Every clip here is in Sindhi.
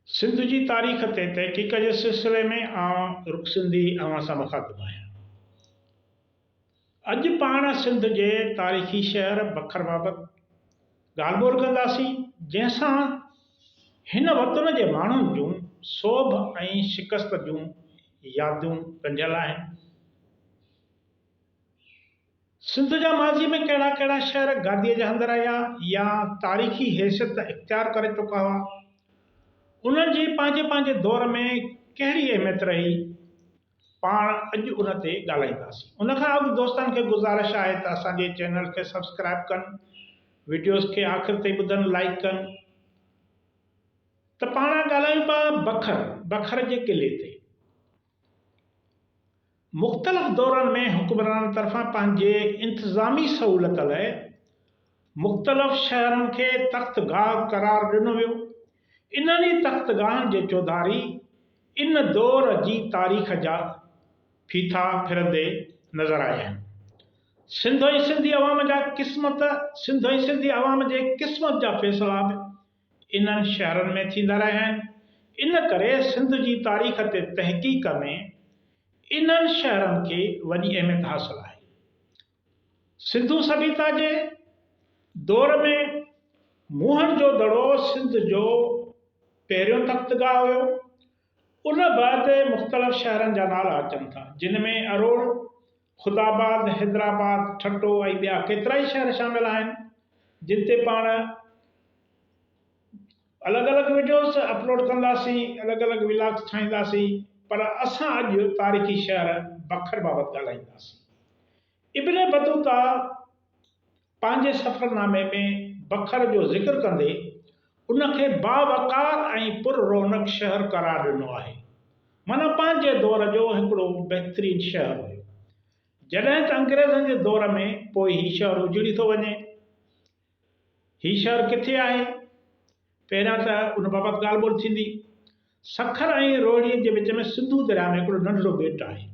سنڌ جي تاريخ تي تحقيق جي سلسلي ۾ آئون رڪ سنڌي اوهان سان مخاطب آهيان. اڄ پاڻ سنڌ جي تاريخي شهر بکر بابت ڳالهه ٻولهه ڪنداسين جنهن سان هن وطن جي ماڻهن جون سوڀ ۽ شڪست جون يادون ڳنڍيل آهن. سنڌ جا ماضي ۾ ڪهڙا ڪهڙا شهر گاديء جا هنڌ رهيا يا تاريخي حيثيت اختيار ڪري چڪا هئا، انهن جي پنهنجي پنهنجي دور ۾ ڪهڙي اهميت رهي، پاڻ اڄ ان تي ڳالهائينداسين. ان کان اڳ دوستن کي گذارش آهي ته اسان جي چينل کي سبسڪرائيب ڪن، وڊيوز کي آخر تائين ٻڌن، لائيڪ ڪن ته پاڻ ڳالهايون پيا بکر، بکر جي قلعي تي. مختلف دورن ۾ حڪمرانن طرفان پنهنجي انتظامي سهولت لاء مختلف شهرن کي تخت گاهه قرار ڏنو ويو. انهن ئي تخت گاهن جي چوڌاري ان دور جي تاريخ جا ڦيٿا ڦرندي نظر آيا آهن. سنڌ ۽ سنڌي عوام جا قسمت سنڌ ۽ سنڌي عوام جي قسمت جا فيصلا به انهن شهرن ۾ ٿيندا رهيا آهن، ان ڪري سنڌ جي تاريخ تي تحقيق ۾ انهن شهرن کي وڏي اهميت حاصل آهي. سنڌو سڀيتا جي دور ۾ موهن جو دڙو سنڌ جو پهريون تختگاهه هيو، ان بعد مختلف شهرن جا نالا اچن ٿا، جن ۾ اروڙ، خداآباد، حيدرآباد، ٺٽو ۽ ٻيا ڪيترائي شهر شامل آهن، جن تي پاڻ الڳ الڳ وڊيوز اپلوڊ ڪنداسين، الڳ الڳ ولاگز ٺاهينداسين، پر اسان اڄ تاريخي شهر بکر بابت ڳالهائينداسين. ابن بطوطا پنهنجي سفرنامي ۾ بکر جو ذڪر ڪندي ان کي باوقار ۽ پر رونق شهر قرار ڏنو آهي. معنيٰ پنهنجي دور جو هڪڙو بهترين شهر هيو. جڏهن ته انگريزن جي دور ۾ پوء هي شهر اجڙي ٿو وڃي. هي شهر ڪٿي آهي؟ پهريان ته ان بابت ڳالهه ٻولهه ٿيندي. سکر ۽ روهڙيء جي وچ ۾ سنڌو درياء ۾ هڪڙو ننڍڙو ٻيٽ آهي،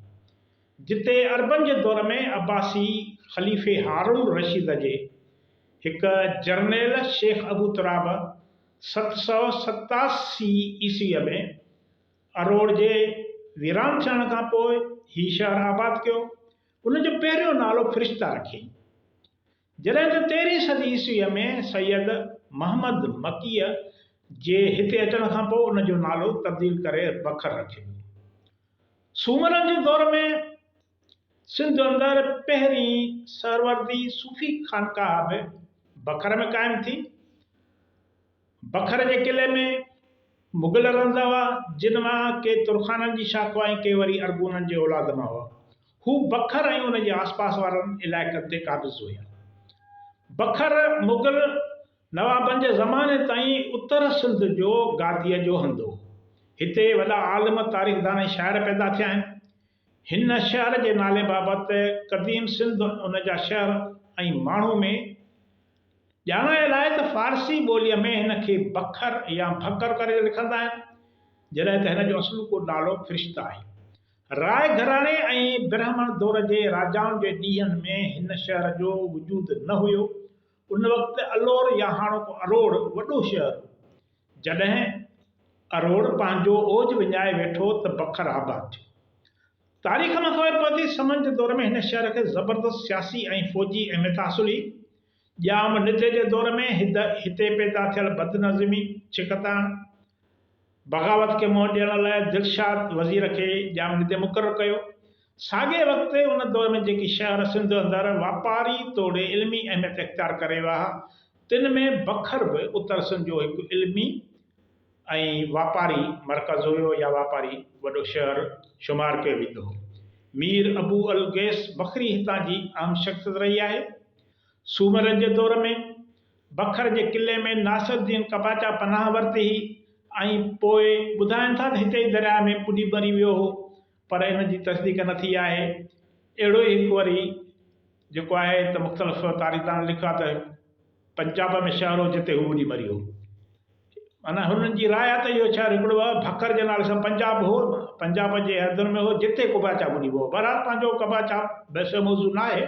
جتي عربن جي دور ۾ عباسي خليفي هارون الرشيد جي هڪ جرنيل شيخ ابو تراب ست سؤ ستاسي عيسويء ۾ اروڙ جي ويران ٿيڻ کان پوء هي شهر آباد ڪيو. ان جو پهريون نالو فرشته رکيائين. جڏهن ته تيرهين صدي عيسويء ۾ سيد محمد مڪيء جي هتي اچڻ کان پوء ان جو نالو تبديل ڪري بکر رکيو ويو. سومرن جي دور ۾ سنڌ اندر پهرين سهروردي صوفي خانقاهه به بکر ۾ قائم ٿي. بکر جي قلعي ۾ مغل رهندا هئا، جن مان ڪي ترخانن جي شاخ هئا ۽ ڪي وري ارغونن جي اولاد مان هئا. هو بکر ۽ ان جي آسپاس وارن علائقن تي قابض هيا. بکر مغل نوابن جي زماني تائين اتر سنڌ جو گاديء جو هنڌ هو. هتي وڏا عالم، تاريخدان ۽ شاعر پيدا ٿيا آهن. هن شهر جي نالي بابت قديم سنڌ، ان جا شهر ۽ ماڻهو ۾ ڄاڻايل آهي ته فارسي ٻوليء ۾ هن کي بکر يا ڀڪر ڪري لکندا آهن، جڏهن ته هن جو اصلوڪو نالو فرشته آهي. راء گهراڻي ۽ برهمڻ دور جي راجائن جي ڏينهن ۾ هن شهر جو وجود نه هيو. ان وقت الور يا هاڻوڪو اروڙ وڏو شهر هو. جڏهن اروڙ پنهنجو اوج وڃائي ويٺو ته بکر آباد ٿيو. تاريخ مان خبر پوي ٿي سمن جي دور ۾ هن شهر کي زبردست سياسي ۽ فوجي اهميت حاصل هئي. ڄام نڌي جي دور ۾ هتي پيدا ٿيل بدنظمي، ڇڪتاڻ، بغاوت کي منهن ڏيڻ لاء دلشاد وزير کي ڄامڙي تي مقرر ڪيو. ساڳئي وقت ان دور ۾ جيڪي شهر سنڌ اندر واپاري توڙي علمي اهميت اختيار ڪري ويا ها، تن ۾ بکر به اتر سنڌ جو هڪ علمي ۽ واپاري مرڪز هيو يا واپاري وڏو شهر شمار ڪيو ويندو هو. مير ابو الغيث بکري هتان جي اهم شخصيت رهي آهي. سومرن جي دور ۾. بکر جي قلعي ۾ ناصر الدين قباچا پناهه ورتي هئي ۽ پوء ٻڌائن ٿا ته هتي ئي درياء ۾ ٻڏي مري ويو هو پر ان جي تصديق نه ٿي آهي. اهڙو ئي هڪ وري جيڪو آهي ته مختلف تاريخدانن لکيو آهي ته پنجاب ۾ شهر هو جتي هو ٻڏي مري هو. معنيٰ هنن جي راء آهي ته اهو شهر هڪڙو بکر جي نالي سان پنجاب هو پنجاب جي حدن ۾ هو جتي قباچا ٻڏي ويو هو. بهرحال پنهنجو قباچا بحث جو موضوع نه آهي.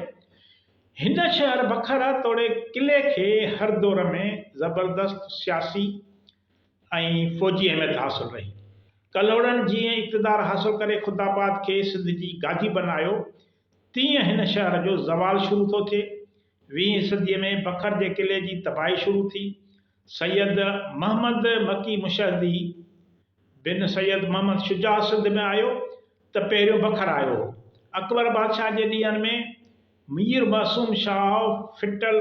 هن شهر بخارا توڙي قلعي کي هر دور ۾ زبردست سياسي ۽ فوجي اهميت حاصل رهي. ڪلهوڙن جيئن اقتدار حاصل ڪري خداآباد کي سنڌ جي گادي بنايو، تيئن هن شهر جو زوال شروع ٿو ٿئي. ويهين صديء ۾ بکر جي قلعي جي تباهي شروع ٿي. سيد محمد مڪي مشهدي بن سيد محمد شجاع سنڌ ۾ آيو ته پهريون بکر آيو هو. اڪبر بادشاهه جي ڏينهن ۾ مير معصوم شاهه ڦٽل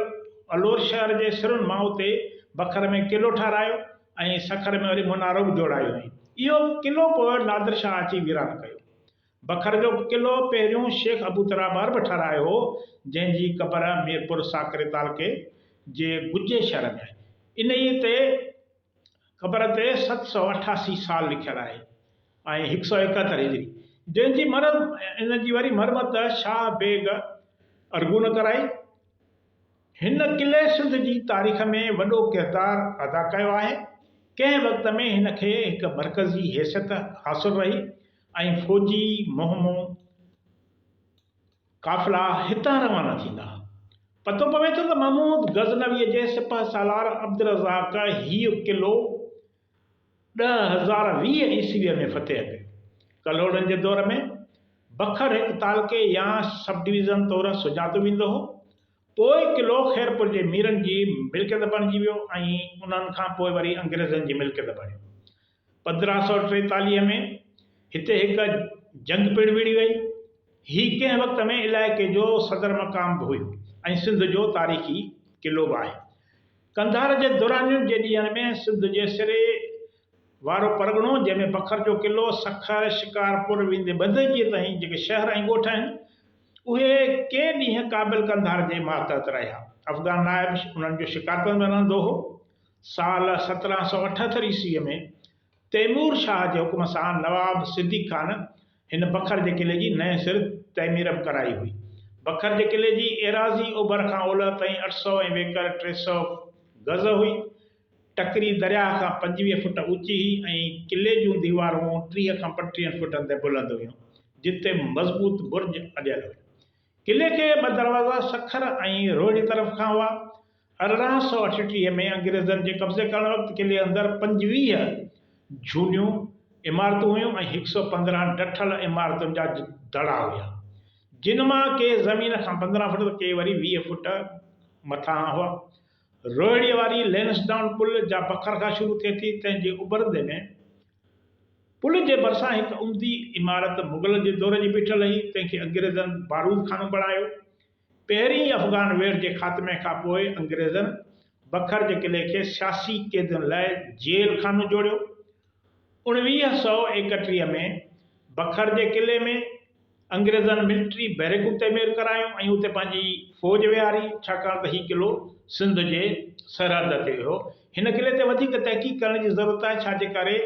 الور شهر جي سرن مان اتي بکر ۾ قلعو ٺهرايو ۽ سکر ۾ وري منارو به جوڙايو هئائين. اهو قلعو پوء نادر شاهه اچي ويران ڪيو. بکر جو قلعو پهريون شيخ ابو ترابعرب ٺهرايو هو، جنهن جي قبر ميرپور ساڪري تعلقي جي گجي شهر ۾ آهي. انهيء تي قبر تي ست سؤ اٺاسي سال لکيل آهي ۽ هڪ سؤ ايڪهتر هجري جنهن جي ان جي وري مرمت شاهه بيگ ارغون ڪرائي. هن قلعي سنڌ جي تاريخ ۾ وڏو ڪردار ادا ڪيو آهي. ڪنهن وقت ۾ هن کي هڪ مرڪزي حيثيت حاصل رهي. ۽ فوجي مهمو قافلا هتان روانا ٿيندا. پتو پوي ٿو ته محمود غزنويء جي سپهه سالار عبدالرزاق هيء قلعو ڏهه هزار ويهه عيسويء ۾ فتح ڪيو. ڪلهوڙن جي دور ۾ بکر هڪ تعلقي يا سب ڊويزن طور سڃاتو ويندو هو. پوء قلعو خيرپور جي ميرن جي ملڪيت بڻجي ويو ۽ انهن کان پوء وري انگريزن جي ملڪيت بڻيو. پندرهن سؤ ٽيتاليهه ۾ هتي هڪ جنگ پڻ وڙهي وئي. هي ڪنهن وقت ۾ علائقي جو صدر مقام به هيو ۽ سنڌ جو تاريخي قلعو به آهي. قنڌار جي درانين جي ڏينهن ۾ سنڌ جي سري وارو پرڳڻو جنهن ۾ بکر جو قلعو، سکر، شڪارپور ويندي بندجيء تائين جيڪي شهر ۽ ڳوٺ آهن، اهي ڪي ڏينهن قابل قنڌار جي ماتحت رهيا. افغان نائب انهن جو شڪارپور ۾ رهندو هو. سال سترهن سؤ اٺهتر عيسويء ۾ تيمور شاهه جي حڪم سان نواب صديق خان هن بکر جي قلعي جي نئين سر تعميرب ڪرائي هئي. بکر جي قلعي جي ايراضي اوڀر کان اولهه تائين اٺ سؤ ۽ ويڪر ٽي سؤ گز هئي. ٽڪري درياهه کان پنجويهه فٽ اوچي هئي ۽ قلعي جون ديوارون ٽيهه کان پنٽيهن فٽن تائين بلند هيون، جتي مضبوط برج اڏيل هيا. قلعي کي ٻه دروازا سکر ۽ روهڙي طرف کان هئا. ارڙهن سؤ اٺٽيهه ۾ انگريزن جي قبضي ڪرڻ وقت قلعي اندر پنجويهه جهونيون عمارتون هيون ۽ هڪ سؤ پندرهن ڊٺل عمارتن جا دڙا هيا، جن مان ڪي زمين کان پندرهن فٽ ته ڪي وري ويهه فٽ مٿانهان هئا. روهڙيء واري لينسڊائون پل جا بکر کان شروع ٿئي ٿي، تنهن جي اڀرندي ۾، پل جي ڀرسان هڪ عمدي عمارت مغلن جي دور جي بيٺل هئي، تنهن کي انگريزن بارود خانو بڻايو. پهرين ئي افغان ويڙهه جي خاتمي کان پوء انگريزن بکر جي قلعي کي سياسي قيدين لاء جيل خانو جوڙيو. اڻويهه سؤ ايڪٽيهه ۾ بکر جي قلعي ۾ انگريزن ملٽري بيرڪون تعمير ڪرايون ۽ اتي پنهنجي فوج ويهاري، ڇاڪاڻ ته هي قلعو سنڌ جي سرحد تي هيو. هن قلعي تي وڌيڪ تحقيق ڪرڻ جي ضرورت آهي، ڇا جي ڪري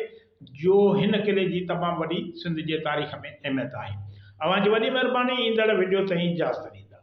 جو هن قلعي جي تمام وڏي سنڌ جي تاريخ ۾ اهميت آهي. اوهان جي وڏي مهرباني ايندڙ وڊيو تائين اجازت ڏيندا.